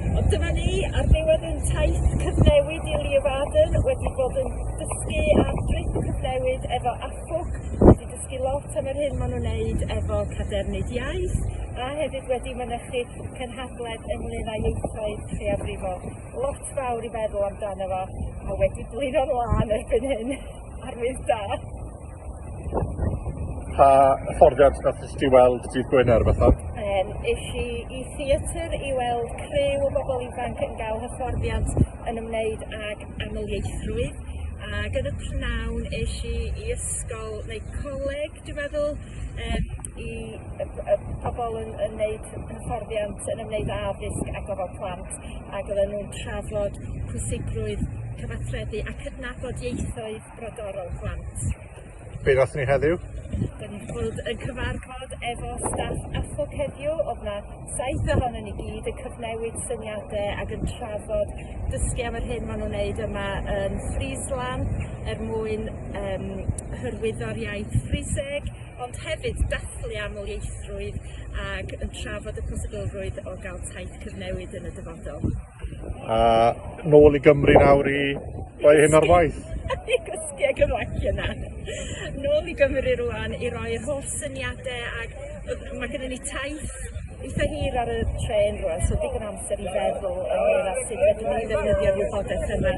Ond dyma ni ar ddiwedd ein taith cyfnewid i Leeuwarden, wedi bod yn dysgu ar drip cyfnewid efo AFWC, wedi dysgu lot am yr hyn maen nhw'n wneud efo cadernid iaith, a hefyd wedi mynychu cynhadledd ynglyn â ieithoedd lleiafrifol. Lot fawr i feddwl amdano fo, a wedi blino'n lân erbyn hyn. Arwydd da! Pa hyfforddiant nath ti weld dydd Gwener fatha? Um, is i i theatr i weld criw o bobl ifanc yn gael hyfforddiant yn ymwneud ag amlieithrwydd ac yn y pnawn is i i ysgol neu coleg dwi'n meddwl um, i y, y pobl yn, yn wneud hyfforddiant yn ymwneud â addysg a gofal plant ac oedden nhw'n trafod pwysigrwydd cyfathrebu a cydnabod ieithoedd brodorol plant. Be ddath ni heddiw? Dyn ni'n bod yn cyfarfod efo staff AFOC heddiw, oedd na saith ohono ni gyd yn cyfnewid syniadau ac yn trafod dysgu am yr hyn maen nhw'n wneud yma yn Friesland er mwyn um, hyrwyddo'r iaith Friseg, ond hefyd dathlu amlieithrwydd ac yn trafod y posibilrwydd o gael taith cyfnewid yn y dyfodol. A nôl i Gymru nawr i roi hyn ar waith. I gysgu ag yn waith yna. Nôl i Gymru rwan i roi'r holl syniadau ac mae gennym ni taith eitha hir ar y trên rwan, so digon amser i feddwl ynglyn â sut ydym ni'n ddefnyddio'r wybodaeth yma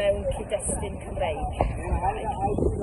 mewn cyd-destun Cymreig.